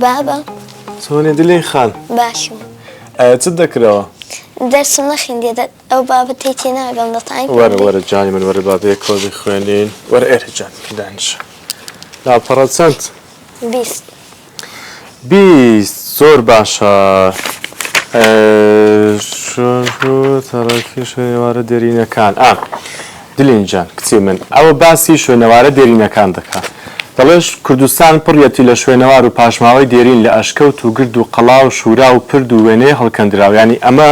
بابە چۆنی دلی خان باشم چ دەکرەوە دەرسم نەخیندێ ئەو بابەتی تێ ناگەڵ دەتان وەرە وەرە جانی من وەرە بابێ کۆزی خوێنین وەرە ئێرە جان دانش لاپەڕە چەند بیست بیست زۆر باشە تەڕەکی شوێنەوارە دێرینەکان ئا دلین جان کچی من ئەوە باسی شوێنەوارە دێرینەکان دەکا دەڵێش کوردستان پڕیەتی لە شوێنەوار و پاشماوەی دێرین لە ئەشکەوت و گرد و قەڵا و شورا و پرد و وێنەی هەڵکەندراو یانی ئەمە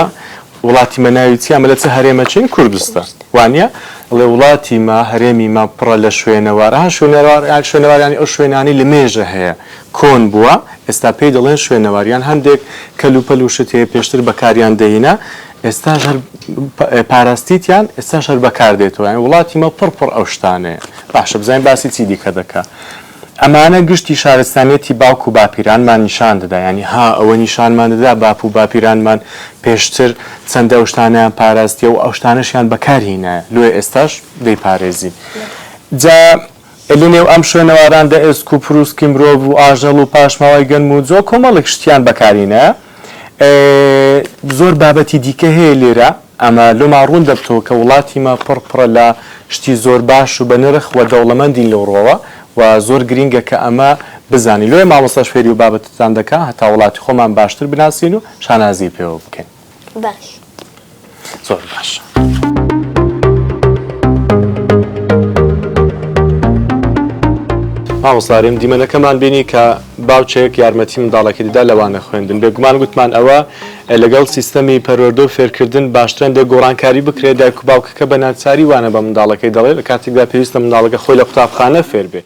وڵاتی مە ناوی چیە مە لە چ هەرێمە چین کوردستان وانیە ئەڵێ وڵاتی مە هەرێمی مە پڕە لە شوێنەوار ئەها شوێنەوار یان شوێنەوار یانی ئەو شوێنانەی لە مێژە هەیە کۆن بووە ئێستا پێی دەڵێن شوێنەوار یان هەندێک کەل و پەل و شت هەیە پێشتر بەکاریان دەینە ئێستاش هەر پاراستیتیان ئێستاش هەر بەکاردێتەوە یانی وڵاتی مە پڕ پڕ ئەو شتانەیە باشە بزانین باسی چی دیکە دەکا ئەمانە گشتی شارستانیەتی باوک و باپیرانمان نیشان دەدا یانی ها ئەوە نیشانمان دەدا باپ و باپیرانمان پێشتر چەندە ئەو شتانەیان پاراستیە و ئەو شتانەشیان بەکار هینایە لۆیە ئێستاش دەیپارێزین جا لە نێو ئەم شوێنەواراندا ئێسک و پروسکی مرۆڤ و ئاژەڵ و پاشماوەی گەنم و جۆ کۆمەڵێک شتیان بەکارهینایە زۆر بابەتی دیکە هەیە لێرە ئەمە لۆما ڕوون دەبتەوە کە وڵاتیمە پڕ پڕە لە شتی زۆر باش و بە نرخ وە دەوڵەمەندین لەو ڕوەوە و زۆر گرینگە کە ئەمە بزانین لۆیە مامۆستاش فێری و بابەتتان دەکا هەتا وڵاتی خۆمان باشتر بناسین و شانازی پێوە بکەین. باش. زۆر باش. مامۆستا رێم دیمەنەکەمان بینی کە باوچێک یارمەتی منداڵەکەی دەدا لەوانە خوێندن بێگومان گوتمان ئەوە لەگەڵ سیستەمی پەروەردە و فێرکردن باشترە هەندێک گۆڕانکاری بکرێت، دایک و باوکەکە بە ناچاری وانە بە منداڵەکەی دەڵێت، لە کاتێکدا پێویستە منداڵەکە خۆی لە قوتابخانە فێر بێت.